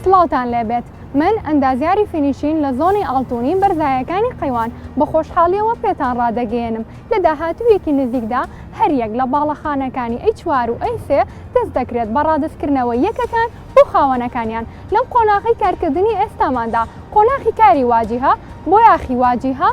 سڵاوتان لێبێت من ئەندازیاری فینیشین لە زۆنی ئاڵتونی بەرزایەکانی قەیوان بە خۆشحاڵیەوە پێتان ڕادەگەیەنم لە داهاتوویەکی نزیکدا هەریەک لە باڵەخانەکانی ئەی چوار و ئەی سێ دەست دەکرێت بە ڕادەستکردنەوەی یەکەکان بۆ خاوەنەکانیان لەم قۆناغی کارکردنی ئێستاماندا قۆناخی کاری واجیهە بۆ یاخی واجیهە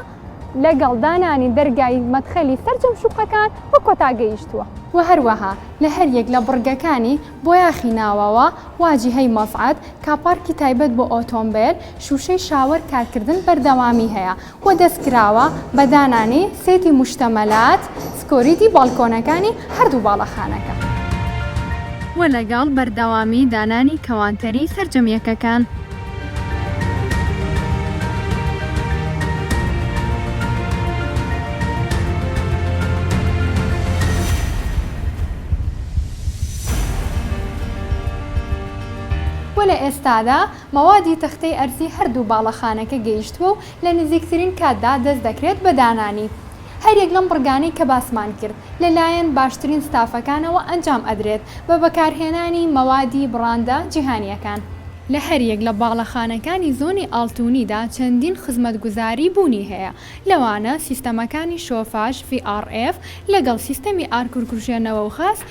لەگەڵ دانانی دەرگای مەدخەلی سەرجەم شوقەکان بە کۆتا گەیشتووە. وە هەروەها لە هەریەک لە بڕگەکانی بۆیاخی ناوەوە، واجیهەی مەسعەد، کاپارکی تایبەت بۆ ئۆتۆمبێل، شوشەی شاوەر کارکردن بەردەوامی هەیە و دەستکراوە بە دانانی سێتی موشتەمەلات، سکۆریتی باڵکۆنەکانی هەردوو باڵەخانەکە. و لەگەڵ بەردەوامی دانانی کەوانتەری سەرجەم یەکەکان. و لە ئێستادا مەوادی تەختەی ئەرزی هەردوو باڵەخانەکە گەیشتووە و لە نزیکترین کاتدا دەست دەکرێت بە دانانی. هەریەک لەم بڕگانەی کە باسمان کرد لە لایەن باشترین ستافەکانەوە ئەنجام ئەدرێت بە بەکارهێنانی مەوادی بڕاندە جیهانیەکان. لە هەریەک لە باڵەخانەکانی زۆنی ئاڵتونیدا چەندین خزمەتگوزاری بوونی هەیە لەوانە سیستەمەکانی شۆفاژ، VRF، لەگەڵ سیستەمی ئارکورکوژێنەوە و غاز،